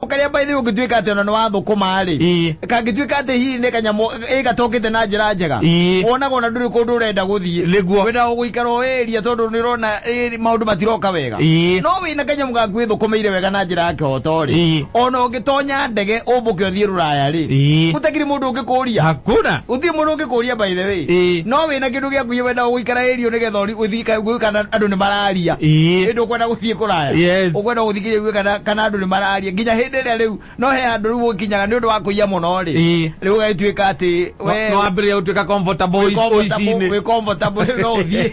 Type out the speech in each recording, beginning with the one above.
karia by the way ũngĩtuĩka atĩ ona nĩ wathũkũma rĩ Ii. kangĩtuĩka atĩ hihi nĩ kanyamũ ĩ gatokĩte na njĩra njega Ii. wonaga ona ndũrĩ kũndũ ũrenda gũthiĩ Nĩguo. wendaga gũikara o ĩria tondũ nĩ ũrona ĩ, maũndũ matiroka wega Ii. no wĩ na kanyamũ gaku ĩthũkũmĩire wega na njĩra ya kĩhoto rĩ Ii. ona ũngĩtonya ndege ũmbũke ũthiĩ rũraya rĩ Ii. gũtakiri mũndũ ũngĩkũria Hakuna. gũtirĩ mũndũ ũngĩkũria by the way Ii. no wĩ na kĩndũ gĩaku wendaga gũikara ĩrio nĩgetha ũri- ũthiĩ ka- gũikana andũ nĩ mararia Ii. ĩndũ ũkwenda gũthiĩ kũraya Yes. ũkwenda gũthiĩ kĩngĩ ũguo kana kana andũ nĩ mararia nginya hĩndĩ ĩrĩa rĩu no he handũ rĩu ũkinyaga nĩ ũndũ wa kũiya mũno rĩ Ĩĩ. rĩu ũgagĩtuĩka atĩ we- no wambĩrĩria gũtuĩka comfortable wĩ ũici- comfortable- ũici-inĩ wĩ comfortable rĩu no ũthiĩ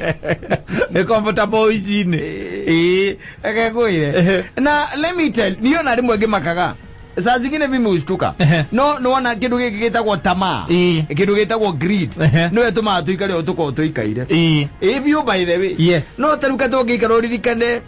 wĩ comfortable ũici-inĩ Ĩĩ. akegwire Ehe. na let me tell niĩ ona rĩmwe ngĩmakaga saa zingine mimi hushtuka Ehe. no nona kĩndũ gĩkĩ gĩtagwo tamaa Ĩĩ. kĩndũ gĩtagwo greed Ehe. nĩwe tũmaga tũikare ũtukoo tũikaire Ĩĩ. ĩbiũ by the way Yes. no taruka tũngĩikara ũririkane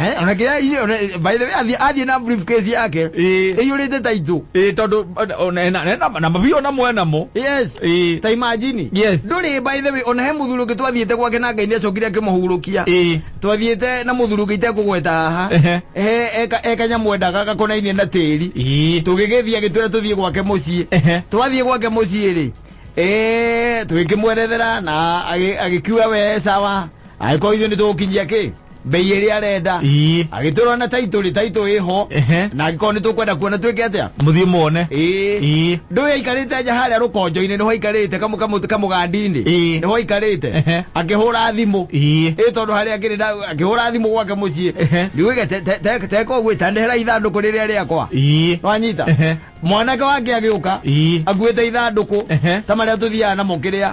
Eh, ona kĩrĩa inyuĩ- ona- by the way, athiĩ- athiĩ na briefcase yake Ĩĩ. ĩiyũrĩte taitũ ĩ tondũ ona- ona ena- ena- na mabiũ ona mwenamo yes ĩ ta imagine Yes. ndũrĩ by the way ona he mũthuri ũngĩ twathiĩte gwake na ngai nĩacokire akĩmũhurũkia ĩ twathiĩte na mũthuri ũngĩ itekũgweta haha Ehe. He- eka- ekanyamũ endaga gakonainie na tĩri ĩ tũgĩgĩthiĩ agĩtwĩra tũthiĩ gwake mũciĩ Ehe. twathiĩ gwake mũciĩ rĩ eh, tũgĩkĩmwerethera na agĩ- agĩkiuga we sawa agĩkorwo ithuĩ nĩ tũgũkinyia kĩ mbei ĩrĩa arenda Ii. agĩtũrwo na taitũ rĩ taitũ ĩho Ehe. na angĩkorwo nĩ tũkwenda kuona twĩke atĩa Mũthiĩ muone. ĩĩ Ii. ndũĩ aikarĩte nja harĩa rũkonjo-inĩ nĩho aikarĩte kamũ- kamũ- kamũgandi-inĩ Ĩĩ. nĩho aikarĩte Ehe. akĩhũra thimũ Ii. ĩ tondũ harĩa akĩrĩ na- akĩhũra thimũ gwake mũciĩ Ehe. ndiũgĩga te- te- te- teka ũguo ĩtandehera ithandũkũ rĩrĩa rĩakwa Ii. wanyita Ehe. mwanake wake agĩũka Ii. akuĩte ithandũkũ Ehe. ta marĩa tũthiaga namo kĩrĩa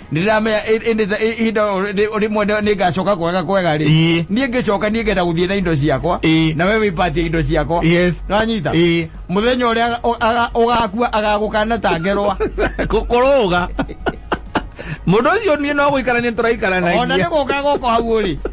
ndĩramenya ĩ- ĩ- nĩ- ĩ- ihinda o rĩ- rĩmwe nĩ- nĩngacoka kwega kwega rĩ Ĩĩ. niĩ ngĩcoka niĩ ngenda gũthiĩ na indo ciakwa Ĩĩ. na we wĩpatie indo ciakwa Yes. nanyita Ĩĩ. mũthenya ũrĩa aga- o- aga- ũgakua agagũkana ta ngerwa kũrũga mũndũ ũcio niĩ no gũikarania tũraikaranagia ona nĩ gũka gũkũ hau ũrĩ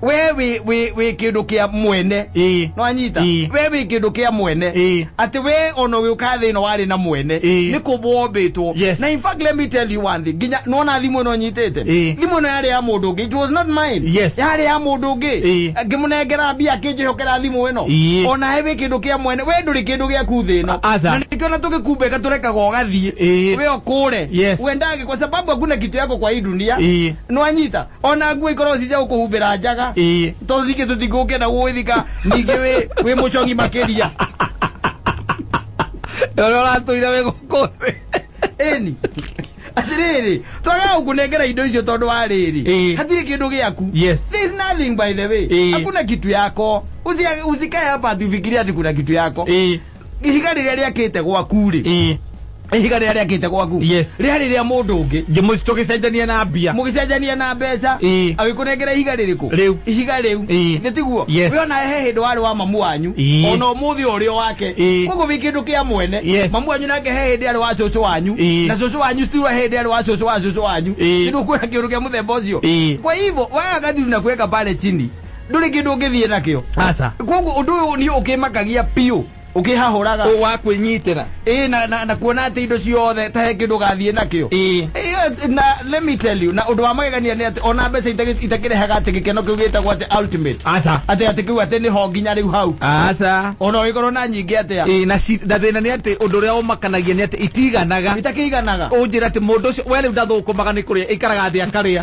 we wĩ- wĩ wĩ kĩndũ kĩa mwene ĩĩ nwanyita Ĩĩ. we wĩ kĩndũ kĩa mwene Ĩĩ. atĩ we ona ũgĩũka thĩ ĩno warĩ na mwene Ĩĩ. nĩ kũmbwo wombĩtwo Yes. na in fact let me tell you one thing nginya nona thimũ ĩno nyitĩte Ĩĩ. thimũ ĩno yarĩ ya mũndũ ũngĩ it was not mine Yes. yarĩ ya mũndũ ũngĩ Ĩĩ. ngĩmũnengera mbia akĩnjĩhokera thimũ ĩno Ĩĩ. ona he wĩ kĩndũ kĩa mwene we ndũrĩ kĩndũ gĩaku thĩ ĩno Aca. na nĩkĩo na tũgĩkumbĩka tũrekaga ũgathiĩ Ĩĩ. we ũkũre Yes. uendage kwa sababu hakuna kitu yako kwa hii dunia Ĩĩ. nwanyita O na nguo ikorwo ci cia gũkũhumbĩra njaga. Ĩĩ. Tondũ ningĩ tũtikũngĩenda gũgwĩthika ningĩ wĩ wĩ mũcong'i makĩria. Na ũrĩa ũratũire wĩ gũkũ thĩ. Ĩni. Atĩrĩrĩ, twagaga gũkũnengera indo icio tondũ wa rĩrĩ, Ĩĩ. hatirĩ kĩndũ gĩaku. Yes. There is nothing by the way. Ĩĩ. Hakuna kitu yako. Usi- Usikae hapa ati ufikirie ati kuna kitu yako. Ĩĩ. ihiga rĩrĩa rĩakĩte gwaku-rĩ ĩĩ ihiga rĩrĩa rĩakĩte gwaku Yes. rĩarĩ rĩa mũndũ ũngĩ ngĩmũci tũgĩcenjania na mbia mũgĩcenjania na mbeca Ĩĩ. agĩkũnengera ihiga rĩrĩkũ Rĩu. ihiga rĩu Ĩĩ. nĩ tiguo Yes. we ona he hĩndĩ warĩ wa mamu wanyu Ĩĩ. ona ũmũthĩ ũrĩ o wake Ĩĩ. koguo wĩ kĩndũ kĩa mwene Yes. mamu wanyu nake he hĩndĩ arĩ wa cũcũ wanyu Ĩĩ. na cũcũ wanyu still he hĩndĩ arĩ wa cũcũ wa cũcũ wanyu Ĩĩ. nĩ kuona kĩũndũ kĩa mũthemba ũcio Ĩĩ. kwa hivyo waya kadiri na kuweka pale chini ndũrĩ kĩndũ ũngĩthiĩ nakĩo aca koguo ũndũ ũyũ niĩ ũkĩmakagia biũ ũkĩhahũraga ũ wa kwĩnyitĩra ĩĩ na, na, na kuona atĩ indo ciothe ta he kĩndũ gathiĩ nakĩo ĩĩ Ĩĩ, na let me tell you na ũndũ wa magegania nĩ atĩ ona mbeca itakĩ- itakĩrehaga atĩ gĩkeno kĩu gĩtagwo atĩ ultimate aca atĩ atĩ kĩu atĩ nĩho nginya rĩu hau aca ona ũgĩkorwo na nyingĩ atĩa ĩĩ na ci- na thĩna nĩ atĩ ũndũ ũrĩa ũmakanagia nĩ atĩ itiganaga itakĩiganaga ũnjĩra atĩ mũndũ ũcio we rĩu ndathũkũmaga nĩ kũrĩa ĩikaraga thĩ akarĩa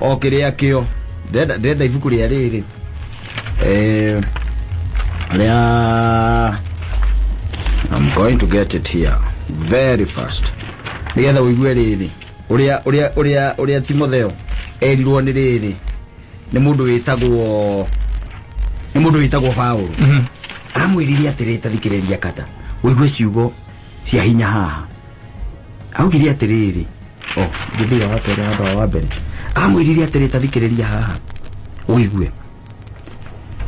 o kĩrĩa kĩo ndĩrenda ndĩrenda ibuku rĩa rĩrĩ eh, rĩa I'm going to get it here very fast nĩgetha ũigue rĩrĩ ũrĩa ũrĩa ũrĩa ũrĩa Timotheo erirwo nĩ rĩrĩ nĩ mũndũ wĩtagwo nĩ mũndũ wĩtagwo Paulo Mhm. amwĩrire atĩrĩ tathikĩrĩria kata ũigue ciugo cia hinya haha augire atĩrĩrĩ o Gibeon wa kerĩ handũ wa wa mbere amwĩrire atĩrĩ ta thikĩrĩria haha ũigue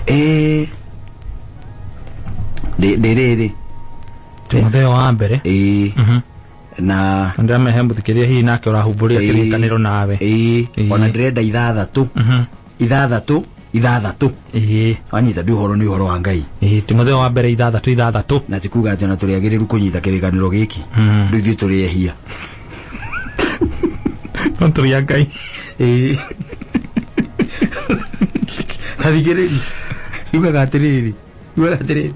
Eh, rĩ- rĩrĩrĩ timotheo wa mbere ĩĩ Mhm. na ndĩramehe mũthikĩria hihi nake ũrahumbũria Ĩĩ. kĩrĩkanĩro nawe ĩĩ Ĩĩ. ona ndĩrenda ithathatũ Mhm. ithathatũ ithathatũ ĩĩ wanyita ndi ũhoro nĩ ũhoro wa ngai ĩĩ timotheo wa mbere ithathatũ ithathatũ na tikuga atĩ ona tũrĩ agĩrĩru kũnyita kĩrĩkanĩro gĩkĩ Mm. rĩu ithuĩ tũrĩ ehia no tũrĩ a ngai Ĩĩ. athikĩrĩri yugaga atĩrĩrĩ yugaga atĩrĩrĩ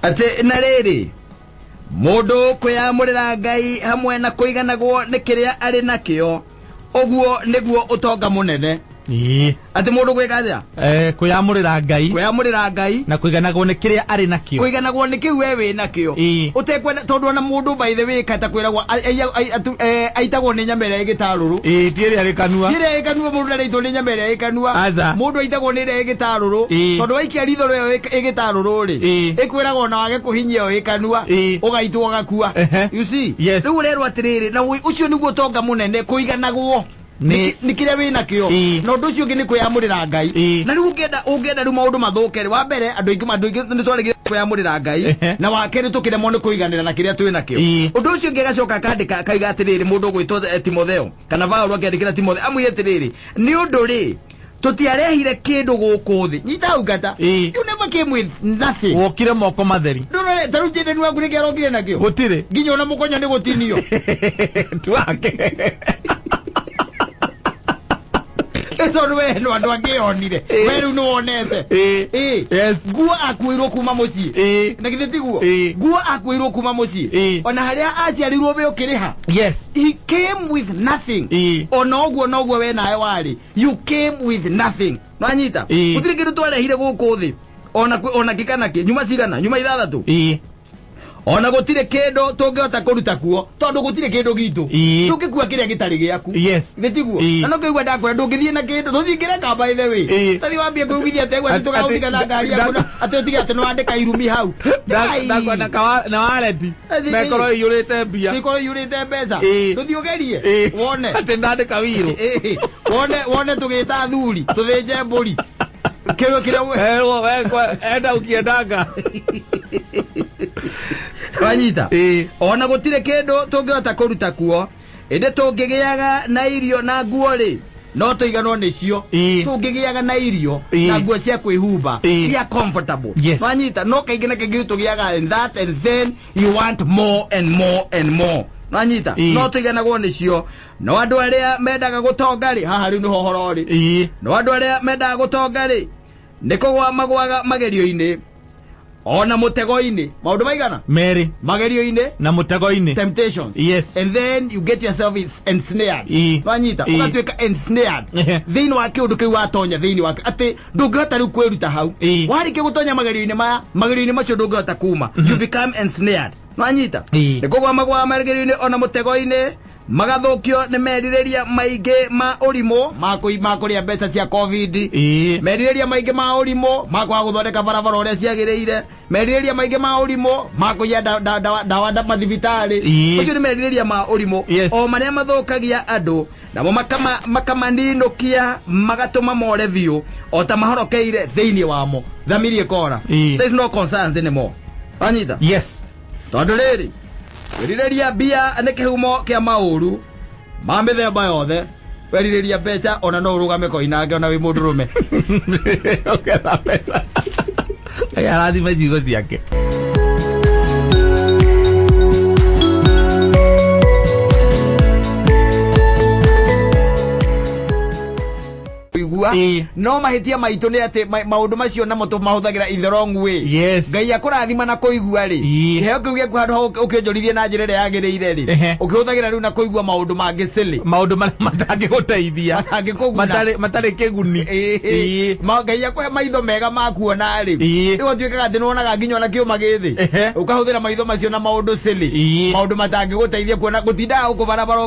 atĩ na rĩrĩ Mũndũ kwĩyamũrĩra Ngai hamwe na kũiganagwo nĩ kĩrĩa arĩ nakĩo, ũguo nĩguo ũtonga mũnene. Ĩĩ. Atĩ mũndũ gwĩka atĩa? Eh, kwĩyamũrĩra Ngai Kwĩyamũrĩra Ngai, na kũiganagwo nĩ kĩrĩa arĩ nakĩo. kũiganagwo nĩ kĩu we wĩ nakĩo. Ĩĩ. Ũtekwenda tondũ ona mũndũ by the way kata kwĩragwo a- aiya- ai- atu- eh, aitagwo nĩ nyama ĩrĩa ĩgĩtarũrũ. Ĩĩ, ti ĩrĩa rĩkanua. Ti ĩrĩa ĩkanua mũndũ ndarĩitwo nĩ nyama ĩrĩa ĩkanua. Aca. Mũndũ aitagwo nĩ ĩrĩa ĩgĩtarũrũ. Ĩĩ. Tondũ waikia ritho rĩo ĩk- ĩgĩtarũrũ-rĩ, Ĩĩ. ĩkwĩraga ona wage kũhinyia ũĩ kanua Ĩĩ. ũgaitwo ũgakua Ehe. you see Yes. rĩu ũrerwo atĩrĩrĩ na ũĩ ũcio nĩguo ũtonga mũnene kũiganagwo Nĩ- nĩ kĩrĩa wĩ nakĩo Ĩĩ. na ũndũ ũcio ũngĩ nĩ kwĩyamũrĩra ngai Ĩĩ. na rĩu ũngĩenda ũngĩenda rĩu maũndũ mathũke rĩ wa mbere andũ aingĩ andũ aingĩ nĩ twarĩgire kwĩyamũrĩra ngai Ehe. na wa kerĩ tũkĩremwo nĩ kũiganĩra na kĩrĩa twĩ nakĩo Ĩĩ. ũndũ ũcio ũngĩ agacoka akandĩka akaiga atĩrĩrĩ mũndũ ũgwĩtwo eh, timotheo kana vaũlũ akĩandĩkĩra timotheo amwĩre atĩrĩrĩ nĩ ũndũ rĩ tũtiarehire kĩndũ gũkũ thĩ nyita hau ngata Ĩĩ. you never came with nothing wokire moko matheri ndũrore tarĩu jĩndeni waku nĩkĩ arokire nakĩo gũtirĩ nginya ona mũkonya nĩ gũtinio twake tondũ we no andũ angĩ yonire Ĩĩ. we rĩu nĩ wonete Ĩĩ. Ĩĩ. Yes. nguo akuĩirwo kuma mũciĩ Ĩĩ. na githĩ tiguo Ĩĩ. nguo akuĩirwo kuma mũciĩ Ĩĩ. ona harĩa aciarirwo we ũkĩrĩha yes he came with nothing Ĩĩ. ona ũguo noguo we nawe warĩ you came with nothing nanyita Ĩĩ. gũtirĩ kĩndũ twarehire gũkũ thĩ ona kwĩ- ona kĩ kana kĩ nyuma cigana nyuma ithathatũ ii ona gũtirĩ kĩndũ tũngĩhota kũruta kuo tondũ gũtirĩ kĩndũ gitũ Ĩĩ. ndũngĩkua kĩrĩa gĩtarĩ gĩaku yes nĩ tiguo Ĩĩ. na no kĩigua ndakwĩra ndũngĩthiĩ na kĩndũ tũthingĩre kamba ĩthe wĩ Ĩĩ. tathi wambie kwĩugithia atĩ gwetĩ Atĩ- tũgagũtiga na atĩ- ngari yaku na- atĩ ũtige atĩ nĩwandĩka irumi hau Ngai. ndakona na wareti mekoro iyurite mbia Nĩkorwo iyurĩte mbeca Ĩĩ. tũthiĩ ũgerie Ĩĩ. wone atĩ ndandĩka wĩirũ Ĩĩ. wone wone tũgĩta athuri tũthĩnje mbũri kĩrĩa kĩrĩa we- Erwo, we, kwa- enda ũkiendanga wanyita Ĩĩ. ona gũtirĩ kĩndũ tũngĩhota kũruta kuo ĩndĩ tũngĩgĩaga na irio na nguo-rĩ no tũiganwo nĩcio Ĩĩ. tũngĩgĩaga na irio Ĩĩ. na nguo cia kwĩhumba Ĩĩ. iria comfortable Yes. wanyita no kaingĩ na kaingĩ tũgĩaga and that and then you want more and more and more wanyita Ĩĩ. no tũiganagwo nĩcio no andũ arĩa mendaga gũtonga-rĩ haha rĩu nĩho ũhoro-rĩ ĩĩ no andũ arĩa mendaga gũtonga-rĩ nĩ kũgwa magwaga magerio-inĩ ona mũtego-inĩ maũndũ maigana merĩ magerio-inĩ na mũtego-inĩ temptations Yes. and then you get yourself is- ensnared Ii. wanyita Ii. ũgatuĩka ensnared Ehe. thĩinĩ wa kĩũndũ kĩu watonya thĩinĩ wa atĩ ndũngĩhota rĩu kwĩruta hau Ii. warĩkia gũtonya magerio-inĩ maya magerio-inĩ macio ndũngĩhota kuma you become ensnared wanyita Ii. nĩ kũgwamagwa magerio-inĩ ona mũtego-inĩ Magathũkio nĩ merirĩria maingĩ ma ũrimũ. Ma kũi ma kũrĩa mbeca cia Covid. Ii. Merirĩria maingĩ ma ũrimũ. Ma kwaga gũthondeka barabara ũrĩa ciagĩrĩire. Merirĩria maingĩ ma ũrimũ. Ma kũiya da, da, da, dawa da, mathibitarĩ. Ii. Macio nĩ merirĩria ma ũrimũ. Yes. O marĩa mathũkagia andũ. Namo makama, makamaninũkia magatũma more biũ. O ta mahorokeire thĩinĩ wamo. Thamiri ĩkoora. Ii. There is no concerns anymore. Wanyita? Yes. Tondũ rĩrĩ. Kwĩrirĩria mbia nĩ kĩhumo kĩa maũru ma mĩthemba yothe. Werirĩria mbeca ona no ũrũgame koinange ona wĩ mũndũrũme. Ũgetha mbeca. Ngai arathime ciugo ciake. kuigua Ĩĩ. no mahĩtia maitũ nĩ atĩ ma- maũndũ macio namo tũmahũthagĩra in the wrong way Yes. ngai akũrathima na kũigua rĩ Ĩĩ. kĩheo kĩu gĩaku handũ ha ũk- ũkĩonjorithie na njĩra ĩrĩa yagĩrĩire rĩ Ehe. ũkĩhũthagĩra rĩu na kũigua maũndũ mangĩ silly maũndũ marĩa matangĩgũteithia Matangĩkũguna. Matarĩ- matarĩ kĩguni Ĩĩ. Ĩĩ. Ma- ngai akũhe maitho mega ma kuona rĩ Ĩĩ. rĩu ũtuĩkaga atĩ nĩwonaga nginya ona kĩũma gĩthĩ Ehe. ũkahũthĩra maitho macio na maũndũ silly Ĩĩ. maũndũ matangĩgũteithia kuona gũtindaga gũkũ barabara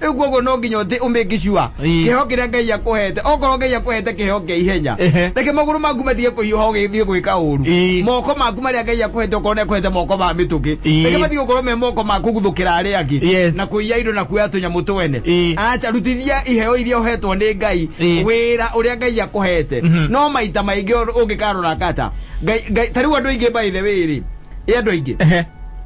Rĩu kwoguo no nginya ũtĩ ũmĩki sure Ĩĩ. kĩheo kĩrĩa Ngai akũhete. Okorwo Ngai akũhete kĩheo kĩa ihenya, Ehe. reke magũrũ maku matige kũhiũha ũgĩthiĩ gwĩka ũũru. Ĩĩ. Moko maku marĩa Ngai akũhete okorwo nĩ akũhete moko ma mĩtũkĩ, Ĩĩ. reke matige gũkorwo me moko ma kũguthũkĩra arĩa angĩ Yes. na kũiya indo na kuoya tũnyamũ twene. Ĩĩ. Aca, rutithia iheo iria ũhetwo nĩ Ngai Ĩĩ. wĩra ũrĩa Ngai akũhete. Mhm. No maita maingĩ ũngĩkarora kata, Ngai, Ngai, ta rĩu andũ aingĩ by the way rĩ, ĩ andũ aingĩ Ehe.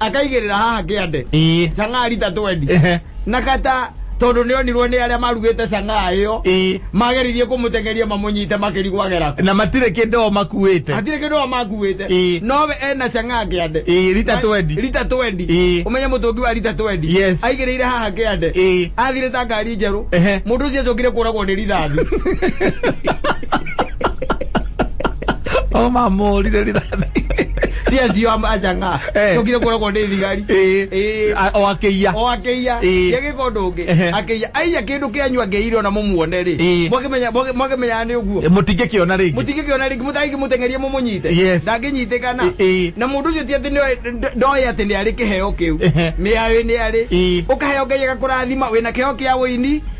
akaigĩrĩra haha kĩande ii cang'aa rita 20 ehe na kata tondũ nĩ onirwo nĩ arĩa marugĩte cang'aa ĩyo ii mageririe kũmũteng'eria mamũnyite makĩrigwagera na matirĩ kĩndũ o makuĩte hatirĩ kĩndũ wa makuĩte Ĩĩ. nowe ena cang'aa kĩande ii rita Na- 20 rita 20 Ĩĩ. ũmenye mũtũngi wa rita 20 Yes. aigĩrĩire haha kĩande Ĩĩ. athire ta ngari njerũ Ehe. mũndũ ũcio acokire kũragwo nĩ rithathi o mamũrire rithathi Yes, yo am- ajanga Eh. tokire kuragwo ni thigari Ĩĩ. Ĩĩ. A- o akĩiya o akĩiya Ĩĩ. gĩgĩka ũndũ ũngĩ Ehe. akĩiya aiya kĩndũ kĩanyu angĩire ona mũmuone rĩ Ĩĩ. mwakĩmenya- mwakĩ- mwakĩmenyaga nĩ ũguo mũtingĩkĩona rĩngĩ mũtingĩkĩona rĩngĩ mũtangĩki mũteng'erie mũmũnyite Yes. ndangĩnyitĩkana Ĩ- ĩ. na mũndũ ũcio ti atĩ nĩoĩ- nd- ndoĩ atĩ nĩ arĩ kĩheo kĩu Ehe. nĩ arĩ nĩ arĩ Ĩ. ũkaheo ngai agakũrathima wĩna kĩheo kĩa ũini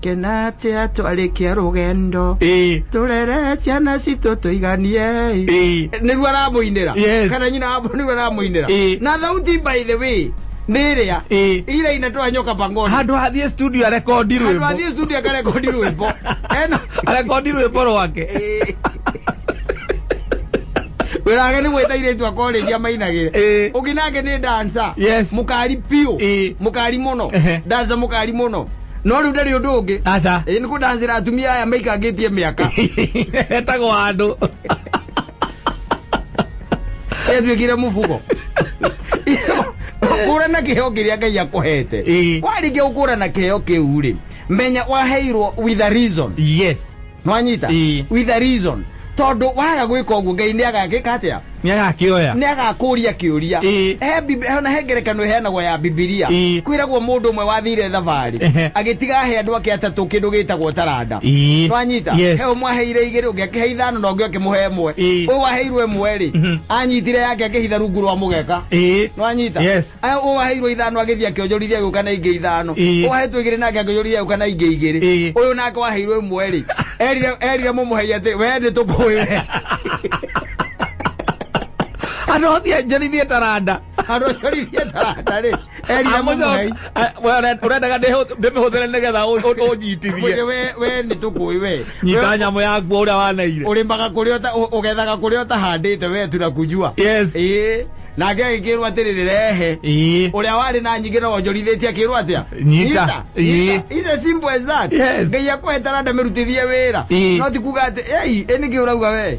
kena atia twarĩkia rũgendo ĩĩ tũrere ciana citũ tũiganie ĩĩ nĩguo aramũinĩra Yes. kana nyina wa nĩguo aramũinĩra Ĩĩ. na thauti by the way nĩ ĩrĩa ĩĩ ira inatoa nyoka pangoni handå hathiä studio arekondi rwä andå athiä studio akarekondi rwĩmbo ena arekondi rwä mbo rwake Ĩĩ. wĩra wake nĩ gwĩta irĩtu akorĩria mainagĩre Ĩĩ. ũngĩ nake nĩ dansa Yes. mũkari piũ Ĩĩ. mũkari mũno Ehe. dansa mũkari mũno no rĩu ndarĩ ũndũ ũngĩ aca ĩĩ nĩ kũdanzĩra atumia aya maikangĩtie mĩaka etagwo andũ etuĩkire mũbugo kũrana kĩheo kĩrĩa ngai akũhete Ĩĩ. warĩkia gũkũrana kĩheo kĩu rĩ menya waheirwo with a reason yes Nĩwanyita? Ĩĩ. With a reason. Tondũ waga gwĩka ũguo, Ngai nĩagagĩka atĩa? Nĩagakĩoya. Nĩagakũũria kĩũria. Ĩĩ. He Bib- he- o na he ngerekano ĩheanagwo ya Bibilia. Ĩĩ. Kwĩragwo mũndũ ũmwe wathiire thabarĩ, Ehe. agĩtiga ahe andũ ake atatũ kĩndũ gĩĩtagwo taranda. Ĩĩ. Nĩwanyita? Yes. He ũmwe aheire igĩrĩ, ũngĩ akĩhe ithano, na ũngĩ akĩmũhe ĩmwe. Ĩĩ. Ũyũ waheirwo ĩmwe-rĩ, Mhm. anyitire yake akĩhitha rungu rwa mũgeka. Ĩĩ. Nĩwanyita? Yes. Aya ũwaheirwo ithano agĩthiĩ akĩonjorithia agĩũka na ingĩ ithano Ĩĩ. ũwahetwo igĩrĩ nake akĩonjorithia agĩũka na ingĩ igĩrĩ Ĩĩ. ũyũ nake waheirwo ĩmwe rĩ erire erire mũmũhei atĩ we nĩ tũkũĩ we andå acio njarithie taranda andũ acorithie taranda rĩ erire mũmũhei ũrendaga ndĩmä hå thä re nä getha å Mwĩrĩ njitithie we we nĩ tũkũĩ we nyita We- nyamå yakuo å rä a waneire ũrĩmaga kũrĩa ũta- ũ- ũgethaga kũrĩa ũtahandĩte we tuna kujua yes ĩĩ nake agĩkĩĩrwo atĩrĩrĩ rehe Ĩĩ. ũrĩa warĩ na nyingĩ no wonjorithĩtie akĩĩrwo atĩa Nyita. Ĩĩ. ice simple as that Yes. ngai akũhe taranda mĩrutithie wĩra Ĩĩ. no ti kuga atĩ ei ĩ nĩkĩ ũrauga wee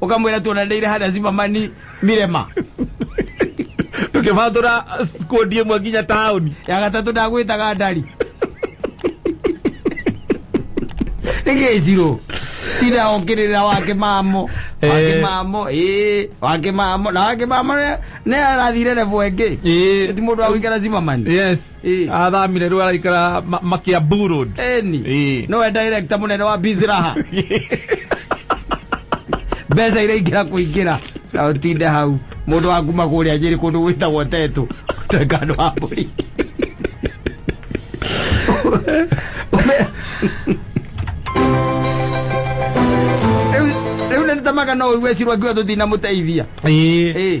ukamwira tuonanire hada zimamani mirema tukivandura skundi imwe nginya tauni ya gatatu ndagwitaga ndari nigiciro tira okirira wake mamo wake Eh. mamo ii wake mamo na wake mamo ne arathire revo engi ti mundu agwikara zimamani yes Ĩ. athamire rä araikara makä ambu road Eni. Ĩ. Nowe director munene wa Bizraha. Mbeca iraingĩra kũingĩra. Na ũtinde hau. Mũndũ wa kuma kũrĩa Nyĩrĩ kũndũ gwĩtagwo Tetũ. Tuĩka andũ a mbũri. Ũme- Rĩu- Rĩu nĩ nĩtamaga no ũigwecirwo ngiwa tũtinamũteithia. Ĩ. Ĩ.